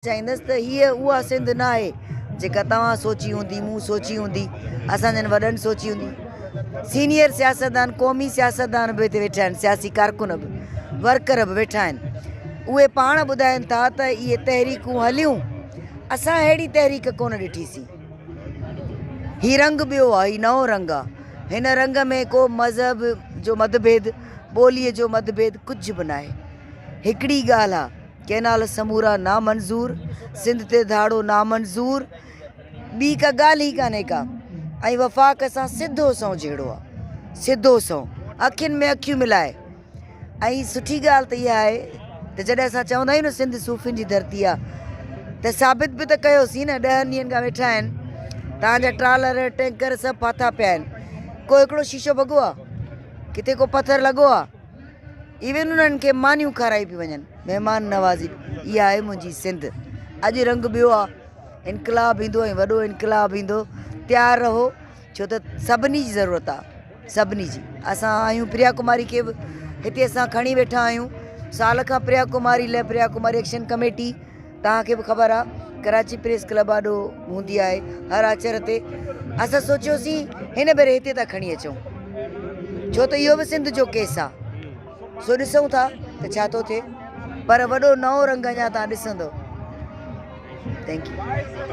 چئينس ته هيء اها سنڌ نه آهي، جيڪا توهان سوچي هوندي، مون سوچي هوندي، اسان جن وڏن سوچي هوندي. سينيئر سياستدان، قومي سياستدان به هتي ويٺا آهن، سياسي ڪارڪن به، ورڪر به ويٺا آهن. اهي پاڻ ٻڌائين ٿا ته اهي تحريڪون هليون، اسان ههڙي تحريڪ ڪونه ڏٺي سين. هي رنگ ٻيو آهي، هي نئون رنگ آهي. هن رنگ ۾ ڪو مذهب جو متڀيد، ٻوليء جو متڀيد ڪجهه به ناهي. هڪڙي ئي ڳالهه آهي. ڪئنال سمورا نامنظور سنڌ تي ڌاڙو نامنظور ٻي ڪا ڳالھ ئي ڪانهي ڪا ۽ وفاق سان سڌو سنئون جهيڙو آ سڌو سنئون اکين ۾ اکيون ملائي ۽ سٺي ڳالھ ته اها آهي ته جڏهن اسان چوندا آهيون نه سنڌ صوفين جي ڌرتي آ ته ثابت به ته ڪيوسين نه ڏهن ڏينهن کان ويٺا آهن تهانجا ٽرالر ٽينڪر سڀ ڦاٿا پيا آهن ڪو هڪڙو شيشو ڀڳو آ ڪٿي ڪو پٿر لڳو آ ايون انهن کي مانيون کارائي پيون وڃن مهمان نوازي اها آهي منهنجي سنڌ اڄ رنگ ٻيو آهي انقلاب ايندو ۽ وڏو انقلاب ايندو تيار رهو ڇو ته سڀني جي ضرورت آهي سڀني جي اسان آهيون پريا ڪماري کي به هتي اسان کڻي ويٺا آهيون سال کان پريا ڪماري لئه پريا ڪماري ايڪشن ڪميٽي توهان کي به خبر آ ڪراچي پريس ڪلب آڏو هوندي آهي هر آچر تي اسان سوچيوسين هن ڀيري هتي ٿا کڻي اچون ڇو ته اهو به سنڌ جو ڪيس آ سو ڏسون ٿا ته ڇا ٿو ٿئي پر وڏو نئون رنگ اڃا تان ڏسندو ٿينڪ يو